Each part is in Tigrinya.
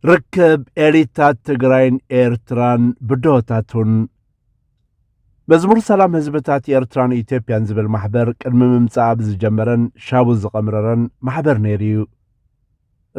ርክብ ኤሊታት ትግራይን ኤርትራን ብድሆታቱን መዝሙር ሰላም ህዝብታት ኤርትራን ኢትዮጵያን ዝብል ማሕበር ቅድሚ ምምፃኣ ብዝጀመረን ሻቡ ዝቐምረረን ማሕበር ነይሩ እዩ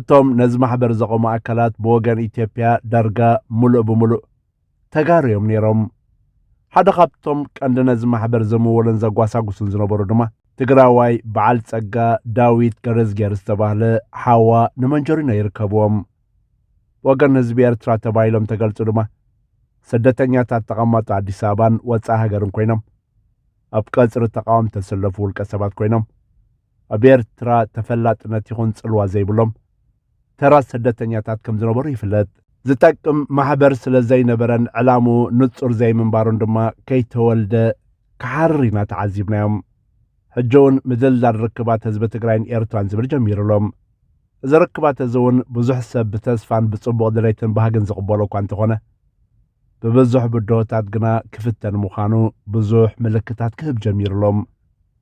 እቶም ነዚ ማሕበር ዘቐሙ ኣካላት ብወገን ኢትዮጵያ ዳርጋ ሙሉእ ብምሉእ ተጋሩ እዮም ነይሮም። ሓደ ካብቶም ቀንዲ ነዚ ማሕበር ዘምወሉን ዘጓሳጉሱን ዝነበሩ ድማ ትግራዋይ በዓል ጸጋ ዳዊት ገረዝጌር ዝተባህለ ሓዋ ንመንጀሪኖ ይርከብዎም። ወገን ህዝቢ ኤርትራ ተባሂሎም ተገልጹ ድማ ስደተኛታት ተቐማጦ ኣዲስ ኣበባን ወጻኢ ሃገርን ኮይኖም ኣብ ቀጽሪ ተቃወም ተሰለፉ ውልቀ ሰባት ኮይኖም ኣብ ኤርትራ ተፈላጥነት ይኹን ጽልዋ ዘይብሎም ተራ ስደተኛታት ከም ዝነበሩ ይፍለጥ። ዝጠቅም ማሕበር ስለ ዘይነበረን ዕላምኡ ንጹር ዘይምንባሩን ድማ ከይተወልደ ክሓርር ኢና ተዓዚብናዮም። ሕጂ እውን ምድልዳል ርክባት ህዝቢ ትግራይን ኤርትራን ዝብል ጀሚሩ ኣሎ። እዚ ርክባት እዚ እውን ብዙሕ ሰብ ብተስፋን ብጽቡቕ ድሌትን ባህግን ዝቕበሎ እኳ እንተኾነ ብብዙሕ ብድሆታት ግና ክፍተን ምዃኑ ብዙሕ ምልክታት ክህብ ጀሚሩ ኣሎ።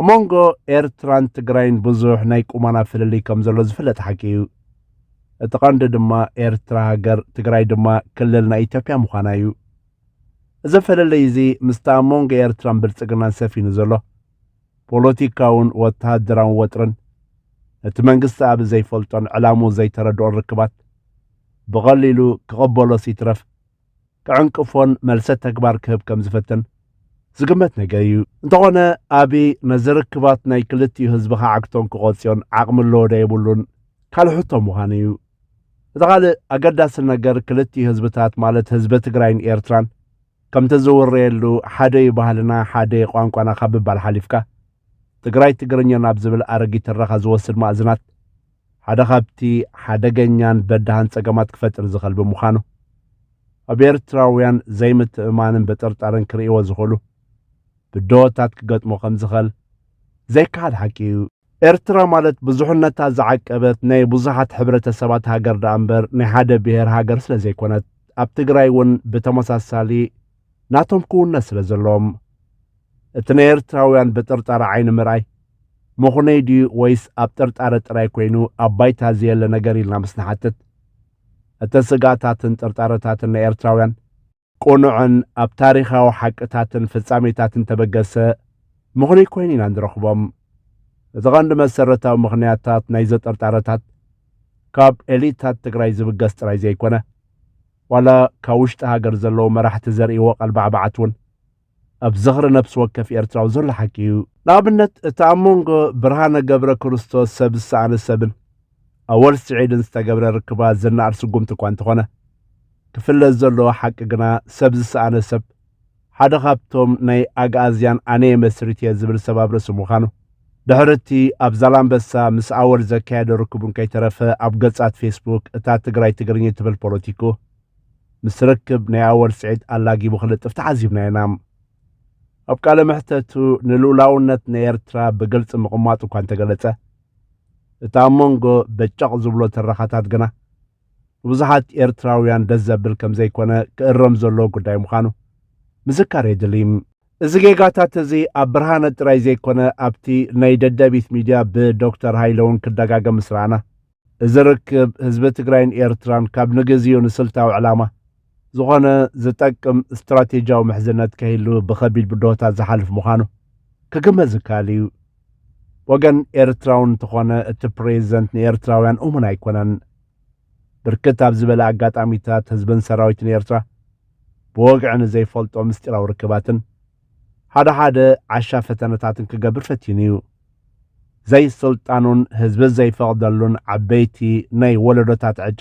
ኣብ መንጎ ኤርትራን ትግራይን ብዙሕ ናይ ቁማና ፍልልይ ከም ዘሎ ዝፍለጥ ሓቂ እዩ እቲ ቐንዲ ድማ ኤርትራ ሃገር ትግራይ ድማ ክልል ናይ ኢትዮጵያ ምዃና እዩ እዚ ፍልልይ እዚ ምስቲ ኣብ መንጎ ኤርትራን ብልጽግናን ሰፊኑ ዘሎ ፖለቲካውን ወተሃደራውን ወጥርን እቲ መንግስቲ ኣብ ዘይፈልጦን ዕላሙ ዘይተረድኦን ርክባት ብቐሊሉ ክቕበሎስ ይትረፍ ክዕንቅፎን መልሰ ተግባር ክህብ ከም ዝፈትን ዝግመት ነገር እዩ። እንተኾነ ኣብይ ነዚ ርክባት ናይ ክልቲኡ ህዝቢ ክዓግቶን ክቆጽዮን ዓቕሚ ኣለዎ ዶ የብሉን ካልእ ሕቶ ምዃኑ እዩ። እቲ ካልእ ኣገዳሲ ነገር ክልቲኡ ህዝብታት ማለት ህዝቢ ትግራይን ኤርትራን ከምቲ ዝውረየሉ ሓደ እዩ ባህልና ሓደ እዩ ቋንቋና ካብ ምባል ሓሊፍካ ትግራይ ትግርኛ ናብ ዝብል ኣረጊት ትረኻ ዝወስድ ማእዝናት ሓደ ካብቲ ሓደገኛን በዳህን ጸገማት ክፈጥር ዝኸል ብምዃኑ ኣብ ኤርትራውያን ዘይምትእማንን በጠርጣርን ክርእይዎ ዝኽእሉ ብድሆታት ክገጥሞ ከም ዝኸል ዘይከሓድ ሓቂ እዩ። ኤርትራ ማለት ብዙሕነታ ዝዓቀበት ናይ ብዙሓት ሕብረተሰባት ሃገር ደኣ እምበር ናይ ሓደ ብሄር ሃገር ስለ ዘይኮነት ኣብ ትግራይ እውን ብተመሳሳሊ ናቶም ክውነት ስለ ዘለዎም እቲ ናይ ኤርትራውያን ብጥርጣረ ዓይኒ ምርኣይ ምኹነይ ድዩ ወይስ ኣብ ጥርጣረ ጥራይ ኮይኑ ኣብ ባይታ ዘየለ ነገር ኢልና ምስ ንሓትት እቲ ስጋታትን ጥርጣረታትን ናይ ኤርትራውያን ቅኑዕን ኣብ ታሪኻዊ ሓቅታትን ፍጻሜታትን ተበገሰ ምኹነይ ኮይኑ ኢና ንረኽቦም እቲ ቐንዲ መሰረታዊ ምኽንያታት ናይ ዘጠርጣረታት ካብ ኤሊታት ትግራይ ዝብገስ ጥራይ ዘይኮነ ዋላ ካብ ውሽጢ ሃገር ዘለዉ መራሕቲ ዘርእይዎ ቀልባዕባዓት እውን ኣብ ዝኽሪ ነፍሲ ወከፍ ኤርትራዊ ዘሎ ሓቂ እዩ። ንኣብነት እቲ ኣብ መንጎ ብርሃነ ገብረ ክርስቶስ ሰብ ዝሰኣነ ሰብን ኣወል ስዒድን ዝተገብረ ርክባት ዝነኣድ ስጉምቲ እኳ እንተኾነ፣ ክፍለጥ ዘለዎ ሓቂ ግና ሰብ ዝሰኣነ ሰብ፣ ሓደ ካብቶም ናይ ኣግኣዝያን ኣነየ መስሪትየ ዝብል ሰብ ኣብ ርእሲ ምዃኑ፣ ድሕሪ እቲ ኣብ ዛላምበሳ ምስ ኣወል ዘካየዶ ርክቡን ከይተረፈ ኣብ ገጻት ፌስቡክ እታ ትግራይ ትግርኚ ትብል ፖለቲኩ ምስ ርክብ ናይ ኣወል ስዒድ ኣላጊቡ ክልጥፍ ተዓዚብናዮ ኢና። ኣብ ቃለ መሕተቱ ንልኡላውነት ናይ ኤርትራ ብግልጺ ምቕማጡ እኳ እንተገለጸ፣ እቲ ኣብ መንጎ በጨቕ ዝብሎ ትረኻታት ግና ንብዙሓት ኤርትራውያን ደስ ዘብል ከም ዘይኮነ ክእረም ዘለዎ ጉዳይ ምዃኑ ምዝካር የድሊ። እዚ ጌጋታት እዚ ኣብ ብርሃነ ጥራይ ዘይኮነ ኣብቲ ናይ ደደቢት ሚድያ ብዶክተር ሃይለ እውን ክደጋገም ምስ ረኣና እዚ ርክብ ህዝቢ ትግራይን ኤርትራን ካብ ንግዜኡ ንስልታዊ ዕላማ ዝኾነ ዝጠቅም ስትራቴጂያዊ ምሕዝነት ከይሉ ብኸቢድ ብድሆታት ዝሓልፍ ምዃኑ ክግመት ዝከኣል እዩ። ወገን ኤርትራዊ እንተኾነ እቲ ፕሬዚደንት ንኤርትራውያን እሙን ኣይኮነን። ብርክት ኣብ ዝበለ ኣጋጣሚታት ህዝብን ሰራዊትን ኤርትራ ብወግዒ ንዘይፈልጦ ምስጢራዊ ርክባትን ሓደ ሓደ ዓሻ ፈተነታት እንክገብር ፈቲኑ እዩ። ዘይስልጣኑን ህዝቢ ዘይፈቕደሉን ዓበይቲ ናይ ወለዶታት ዕጫ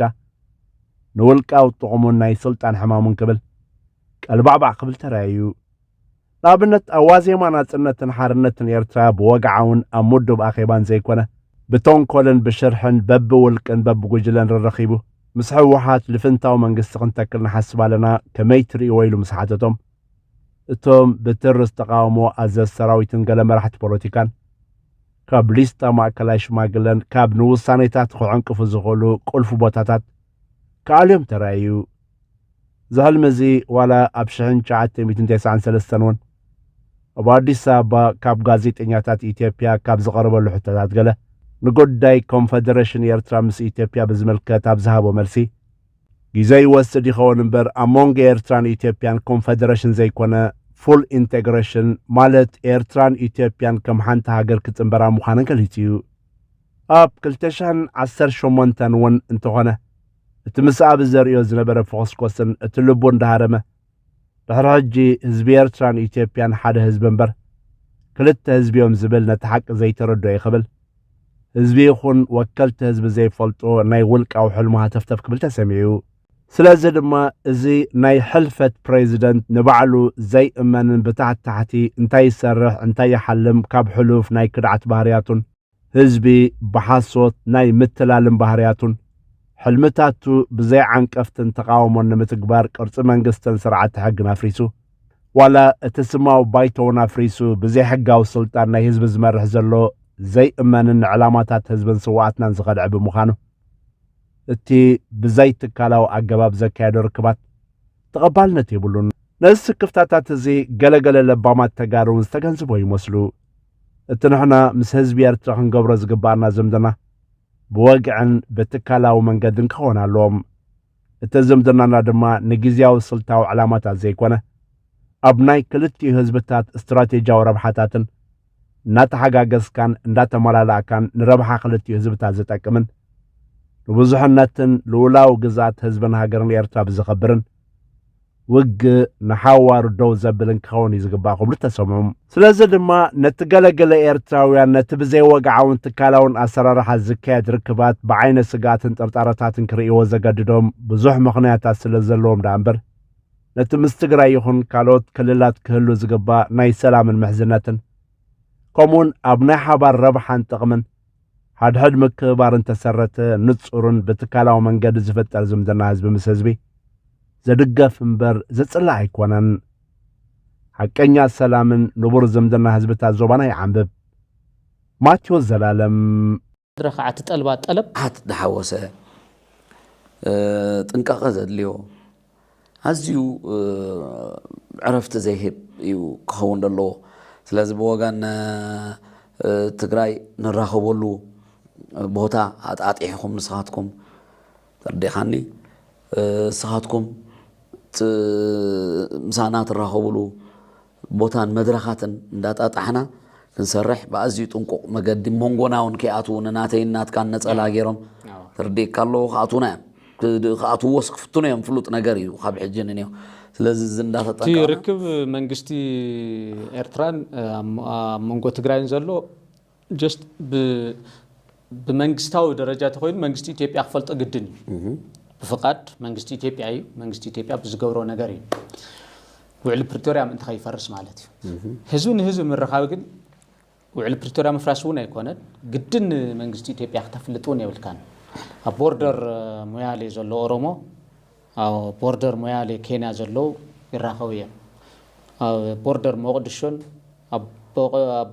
ንውልቃዊ ጥቕሙን ናይ ስልጣን ሕማሙን ክብል ቀልባዕባዕ ክብል ተራእዩ። ንኣብነት ኣብ ዋዜማ ናጽነትን ሓርነትን ኤርትራ ብወግዓውን ኣብ ምዱብ ኣኼባን ዘይኮነ ብተንኮልን ብሽርሕን በብውልቅን በብጉጅለን ረረኺቡ ምስ ሕወሓት ልፍንታዊ መንግስቲ ክንተክል ንሓስብ ኣለና ከመይ ትርእይዎ ኢሉ ምስ ሓተቶም እቶም ብትርስ ተቓውሞ ኣዘዝ ሰራዊትን ገለ መራሕቲ ፖለቲካን ካብ ሊስታ ማእከላይ ሽማግለን ካብ ንውሳኔታት ክዕንቅፉ ዝኽእሉ ቁልፊ ቦታታት ክኣልዮም ተራእዩ። እዚ ሕልሚ እዚ ዋላ ኣብ ሽሕን ትሽዓተ ሚእትን ተስዓን ሰለስተን እውን ኣብ ኣዲስ ኣበባ ካብ ጋዜጠኛታት ኢትዮጵያ ካብ ዝቐረበሉ ሕቶታት ገለ ንጉዳይ ኮንፈደረሽን ኤርትራ ምስ ኢትዮጵያ ብዝምልከት ኣብ ዝሃቦ መልሲ ጊዘ ይወስድ ይኸውን እምበር ኣብ ሞንጎ ኤርትራን ኢትዮጵያን ኮንፈደረሽን ዘይኮነ ፉል ኢንተግረሽን ማለት ኤርትራን ኢትዮጵያን ከም ሓንቲ ሃገር ክጽንበራ ምዃነን ገሊጹ እዩ። ኣብ ክልተ ሽሕን ዓሰርተ ሸሞንተን እውን እንተኾነ እቲ ምስ ኣቢ ዘርእዮ ዝነበረ ፍኹስኮስን እቲ ልቡ እንዳሃረመ ድሕሪ ሕጂ ህዝቢ ኤርትራን ኢትዮጵያን ሓደ ህዝቢ እምበር ክልተ ህዝቢዮም ዝብል ነቲ ሓቂ ዘይተረድኦ እዩ ክብል ህዝቢ ይኹን ወከልቲ ህዝቢ ዘይፈልጦ ናይ ውልቃዊ ሕልሙ ሃተፍተፍ ክብል ተሰሚዑ። ስለዚ ድማ እዚ ናይ ሕልፈት ፕሬዚደንት ንባዕሉ ዘይእመንን ብታሕቲ ታሕቲ እንታይ ይሰርሕ እንታይ ይሓልም ካብ ሕሉፍ ናይ ክድዓት ባህርያቱን ህዝቢ ብሓሶት ናይ ምትላልን ባህርያቱን ሕልምታቱ ብዘይ ዓንቀፍትን ተቓውሞን ንምትግባር ቅርፂ መንግስትን ስርዓተ ሕግን ኣፍሪሱ ዋላ እቲ ስማዊ ባይቶውን ኣፍሪሱ ብዘይ ሕጋዊ ስልጣን ናይ ህዝቢ ዝመርሕ ዘሎ ዘይእመንን ንዕላማታት ህዝብን ስዋኣትናን ዝኸድዐ ብምዃኑ እቲ ብዘይ ትካላዊ ኣገባብ ዘካየዶ ርክባት ተቐባልነት የብሉን። ነዚ ስክፍታታት እዚ ገለገለ ለባማት ተጋሩውን ዝተገንዝቦ ይመስሉ። እቲ ንሕና ምስ ህዝቢ ኤርትራ ክንገብሮ ዝግብኣና ዝምድና ብወግዕን ብትካላዊ መንገድን ክኾን ኣለዎም። እቲ ዝምድናና ድማ ንግዝያዊ ስልታዊ ዕላማታት ዘይኮነ ኣብ ናይ ክልቲኡ ህዝብታት ስትራቴጂያዊ ረብሓታትን እናተሓጋገዝካን እንዳተመላላእካን ንረብሓ ክልቲኡ ህዝብታት ዝጠቅምን ንብዙሕነትን ልኡላዊ ግዝኣት ህዝብን ሃገርን ኤርትራ ብዘኸብርን ውግእ ንሓዋሩ ደው ዘብልን ክኸውን እዩ ዝግባእ ክብሉ ተሰምዑ። ስለዚ ድማ ነቲ ገለገለ ኤርትራውያን ነቲ ብዘይወግዓውን ትካላውን ኣሰራርሓ ዝካየድ ርክባት ብዓይነ ስግኣትን ጥርጣረታትን ክርእይዎ ዘገድዶም ብዙሕ ምኽንያታት ስለ ዘለዎም ደኣ እምበር ነቲ ምስ ትግራይ ይኹን ካልኦት ክልላት ክህሉ ዝግባእ ናይ ሰላምን ምሕዝነትን ከምኡውን ኣብ ናይ ሓባር ረብሓን ጥቕምን ሓድሕድ ምክብባር እንተሰረተ ንጹርን ብትካላዊ መንገዲ ዝፍጠር ዝምድና ህዝቢ ምስ ህዝቢ ዘድገፍ እምበር ዘጽልእ ኣይኮነን። ሓቀኛ ሰላምን ንቡር ዝምድና ህዝብታት ዞባና ይዓንብብ። ማቴዎስ ዘላለም ረክዓ ትጠልባ ጠለብ። ዓት ዝሓወሰ ጥንቃቐ ዘድልዮ። ኣዝዩ ዕረፍቲ ዘይህብ እዩ ክኸውን ዘለዎ። ስለዚ ብወገን ትግራይ ንራኸበሉ ቦታ ኣጣጢሕኹም ንስኻትኩም ተርዲእኻኒ ንስኻትኩም ምሳና ትራኸብሉ ቦታን መድረኻትን እንዳጣጣሕና ክንሰርሕ ብኣዝዩ ጥንቁቕ መገዲ ሞንጎና ውን ከይኣትዉ ንናተይን ናትካን ነጸላ ጌሮም ተርዲእካ ኣለዉ ክኣትዉና እዮም ክኣትውዎስ ክፍትኑ እዮም ፍሉጥ ነገር እዩ ካብ ሕጂ ንኔው ስለዚ እዚ እቲ ርክብ መንግስቲ ኤርትራን ኣብ መንጎ ትግራይን ዘሎ ጀስት ብመንግስታዊ ደረጃ ተኮይኑ መንግስቲ ኢትዮጵያ ክፈልጦ ግድን እዩ ብፍቃድ መንግስቲ ኢትዮጵያ እዩ መንግስቲ ኢትዮጵያ ብዝገብሮ ነገር እዩ ውዕሊ ፕሪቶሪያ ምእንቲ ከይፈርስ ማለት እዩ ህዝቢ ንህዝቢ ምርኻብ ግን ውዕሊ ፕሪቶሪያ ምፍራስ እውን ኣይኮነን ግድን መንግስቲ ኢትዮጵያ ክተፍልጥ እውን የብልካን ኣብ ቦርደር ሙያሌ ዘሎ ኦሮሞ ኣብ ቦርደር ሞያሌ ኬንያ ዘለዉ ይራኸቡ እዮም። ኣብ ቦርደር ሞቕድሾን ኣብ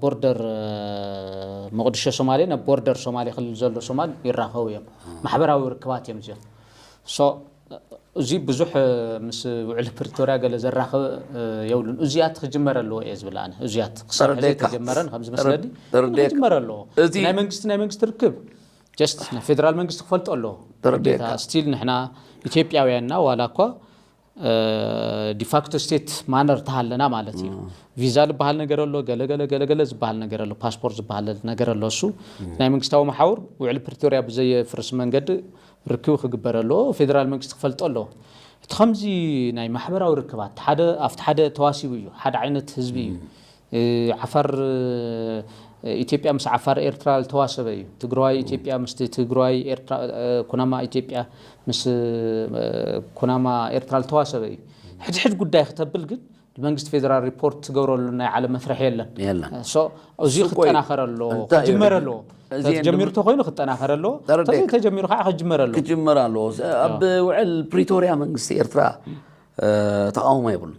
ቦርደር ሞቕድሾ ሶማሌን ኣብ ቦርደር ሶማሌ ክልል ዘሎ ሶማል ይራኸቡ እዮም። ማሕበራዊ ርክባት እዮም እዚኦም። እዚ ብዙሕ ምስ ውዕሊ ፕሪቶርያ ገለ ዘራኽብ የብሉን። እዙያት ክጅመር ኣለዎ እየ ዝብል ኣነ እዙያት ክሳብ ሕዚ ተጀመረን ከምዝመስለኒ ክጅመር ኣለዎ። ናይ መንግስቲ ናይ መንግስቲ ርክብ ጀስት ናይ ፌደራል መንግስቲ ክፈልጦ ኣለዎ ግዴታ ስቲል ንሕና ኢትዮጵያውያንና ዋላ እኳ ዲፋክቶ ስቴት ማነር ተሃለና ማለት እዩ ቪዛ ዝበሃል ነገር ኣሎ ገለገለ ገለገለ ዝበሃል ነገር ኣሎ ፓስፖርት ዝበሃል ነገር ኣሎ እሱ ናይ መንግስታዊ መሓውር ውዕሊ ፕሪቶሪያ ብዘየፍርስ መንገዲ ርክብ ክግበር ኣለዎ ፌደራል መንግስቲ ክፈልጦ ኣለዎ እቲ ከምዚ ናይ ማሕበራዊ ርክባት ሓደ ኣብቲ ሓደ ተዋሲቡ እዩ ሓደ ዓይነት ህዝቢ እዩ ዓፋር ኢትዮጵያ ምስ ዓፋር ኤርትራ ልተዋሰበ እዩ ትግራዋይ ኢትዮጵያ ምስቲ ትግራዋይ ኤርትራ ኩናማ ኢትዮጵያ ምስ ኩናማ ኤርትራ ልተዋሰበ እዩ ሕድሕድ ጉዳይ ክተብል ግን መንግስቲ ፌደራል ሪፖርት ትገብረሉ ናይ ዓለም መፍርሒ የለን የለን ሶ እዚ ስቆይ፣ ክጠናኸረ ኣለዎ እንታይ እዩ ክጅመረ ሕጂ? ኣለዎ እዚ እንድም- ተጀሚሩ ተኮይኑ ክጠናኸረ ኣለዎ ተረዲእካ። ተዘይ ተጀሚሩ ከዓ ክጅመረ ኣለዎ ክጅመር ኣለዎ ኣብ ውዕል ፕሪቶርያ መንግስቲ ኤርትራ እ፣ ተቃውሞ የብሉን